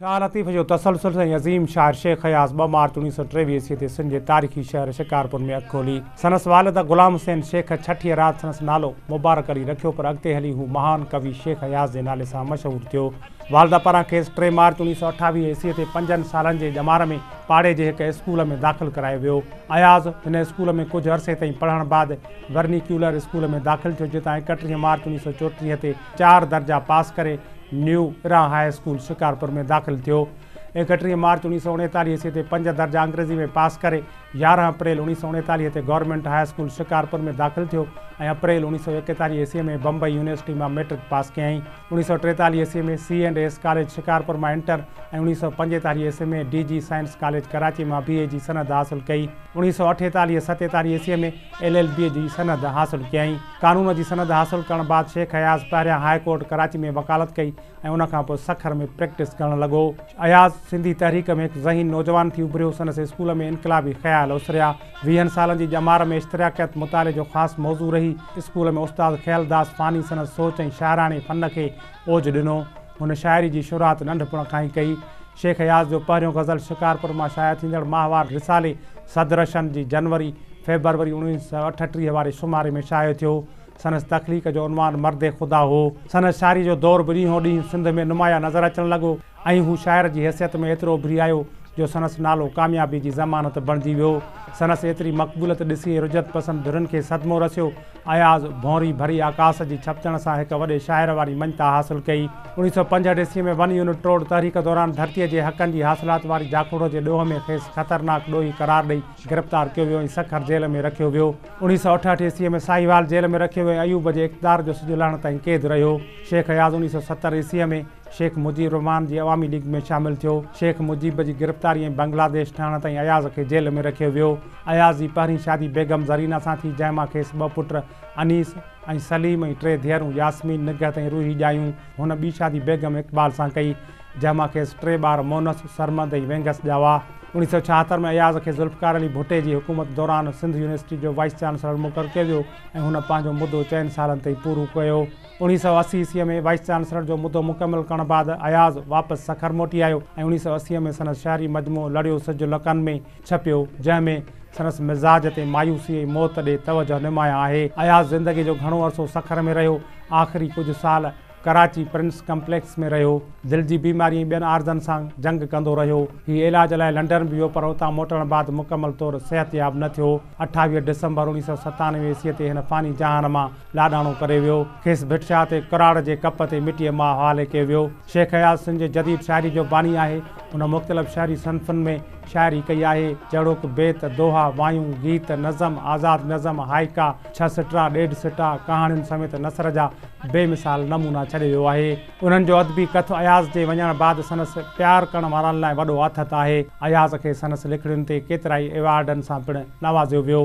شاهه لطيف جو تسلسل ۽ عظيم شاعر شيخ اياز ٻه مارچ اوڻيهه سؤ ٽيويهه عيسوي تي سنڌ جي تاريخي شهر شڪارپور ۾ اک کولي. سندس والد غلام حسين شيخ ڇٺيء رات سندس نالو مبارڪ علي رکيو پر اڳتي هلي هو مهان ڪوي شيخ اياز جي نالي سان مشهور ٿيو. والده پاران کيس ٽي مارچ اوڻيهه سؤ اٺاويهه عيسوي تي پنجن سالن جي ڄمار ۾ پاڙي جي هڪ اسڪول ۾ داخل ڪرايو ويو. اياز هن اسڪول ۾ ڪجهه عرصي تائين پڙهڻ بعد ورنيڪيولر اسڪول ۾ داخل ٿيو جتان ايڪٽيهه مارچ اوڻيهه سؤ چوٽيهه تي چار درجا پاس ڪري نيو ارا هاء اسڪول شڪارپور ۾ داخل ٿيو. ايڪٽيهه مارچ اوڻيهه سؤ اڻيتاليهه عيسوي تي پنج درجا انگريزي ۾ پاس ڪري يارهن اپريل اوڻيهه سؤ اڻيتاليهه تي گورنمينٽ هاء اسڪول شڪارپور ۾ داخل ٿيو ۽ اپريل اوڻيهه سؤ ايڪيتاليهه عيسوي ۾ بمبئي يونيورسٽي مان مئٽرڪ پاس ڪيائين. اوڻيهه سؤ ٽيتاليهه عيسوي ۾ C and S college Shikarpur مان انٽر ۽ اوڻيهه سؤ پنجيتاليهه عيسوي ۾ D J science college Karachi مان بي اي جي سند حاصل ڪئي. اوڻيهه سؤ اٺيتاليهه ستيتاليهه عيسوي ۾ ايل ايل بي جي سند حاصل ڪيائين. قانون جي سند حاصل ڪرڻ بعد شيخ اياز پهريان هاء ڪورٽ ڪراچي ۾ وڪالت ڪئي ۽ ان کان پوء سکر ۾ پريڪٽس ڪرڻ لڳو. اياز سنڌي تحريڪ ۾ هڪ ذهين نوجوان ٿي اڀريو، سندس اسڪول ۾ انقلابي خيال اسريا. ويهن سالن جي ڄمار ۾ اشتراڪيت مطالعي جو خاص موضوع رهي. اسڪول ۾ استاد خيالداس فاني سندس سوچ ۽ شاعراڻي فن کي اوج ڏنو. هن شاعري جي شروعات ننڍپڻ کان ئي ڪئي. شيخ اياز جو پهريون غزل شڪارپور مان شايع ٿيندڙ ماهوار رسالي صدرشن جي جنوري، فيبروري اڻويهه سؤ اٺٽيهه واري شماري ۾ شايع ٿيو. سندس تخليق جو عنوان مرد خدا هو. سندس شاعري جو دور به ڏينهون ڏينهن سنڌ ۾ نمايان نظر اچڻ لڳو ۽ هو شاعر جي حيثيت ۾ ايترو اڀري آيو جو سندس نالو ڪاميابي جي ضمانت بڻجي ويو. سندس ايتري مقبوليت ڏسي رجعت پسند ڌرين کي صدمو رسيو. اياز ڀونري ڀري آڪاس جي ڇپجڻ سان هڪ وڏي شاعر واري مڃتا حاصل ڪئي. اوڻيهه سؤ پنجهٺ عيسوي ۾ ون يونٽ ٽوڙ تحريڪ دوران ڌرتيء جي حقن جي حاصلات واري جاکوڙو جي ڏوهه ۾ کيس خطرناڪ ڏوهي قرار ڏئي گرفتار ڪيو ويو ۽ سکر جيل ۾ رکيو ويو. اوڻيهه سؤ اٺهٺ عيسوي ۾ ساهيوال جيل ۾ رکيو ويو ۽ ايوب جي اقتدار جو سڄو لهڻ تائين قيد رهيو. شيخ اياز اوڻيهه سؤ ستر عيسوي ۾. شيخ مجيب الرحمان جي عوامي ليگ ۾ شامل ٿيو. شيخ مجيب جي گرفتاري ۽ بنگلاديش ٺهڻ تائين اياز کي جيل ۾ رکيو ويو. اياز جي پهرين شادي بيگم زرينه سان ٿي، جنهن مان کيس ٻه پٽ انيس ۽ سليم ۽ ٽي ڌيئرون ياسمين، نگهت ۽ روحي ڄايون. هن ٻي شادي بيگم اقبال سان ڪئي، جنهن مان کيس ٽي ٻار مونس، سرمد ۽ وينگس ڄاوا. اڻيهه سؤ ڇاهتر ۾ اياز کي ذوالفقار علي ڀٽي جي حڪومت دوران سنڌ يونيورسٽي جو وائيس چانسلر مقرر ڪيو ويو ۽ هن پنهنجو مدو چئن سالن تائين پورو ڪيو. اوڻيهه سؤ اسي عيسويء ۾ وائيس چانسلر جو مدو مڪمل ڪرڻ بعد اياز واپس سکر موٽي آيو ۽ اوڻيهه سؤ اسي ۾ سندس شعري مجموعو لڙيو سج لڪن ۾ ڇپيو، جنهن ۾ سندس مزاج تي مايوسي ۽ موت ڏي توجه نمايان آهي. اياز زندگيء جو گهڻو عرصو سکر ۾ رهيو. آخري ڪجهه سال ڪراچي پرنس ڪمپليڪس ۾ رهيو. دل جي بيماري ۽ ٻين عارضن سان جنگ ڪندو رهيو. هي علاج لاء لنڊن به ويو پر اتان موٽڻ بعد مڪمل طور صحتياب نه ٿيو. اٺاويهه ڊسمبر اوڻيهه سؤ ستانوي عيسويء تي هن فاني جهان مان لاڏاڻو ڪري ويو. کيس ڀٽشاهه تي ڪراڙ جي ڪپ تي مٽيء مان حوالي ڪيو ويو. شيخ اياز سنڌ جي جديد شاعري جو باني آهي. هن مختلف شهري صنفن ۾ شاعري ڪئي آهي، جهڙوڪ، بيت، دوها، وايون، گيت، نظم، آزاد نظم، هائيڪا، ڇهه سٽرا، ڏيڍ سٽا، ڪهاڻين سميت نثر جا بي مثال نمونا ڇڏي ويو آهي. انهن جو ادبي ڪٿ اياز جي وڃڻ بعد سندس پيار ڪرڻ وارن لاء وڏو آٿت آهي. اياز کي سندس لکڻين تي ڪيترائي ايوارڊن سان پڻ نوازيو ويو.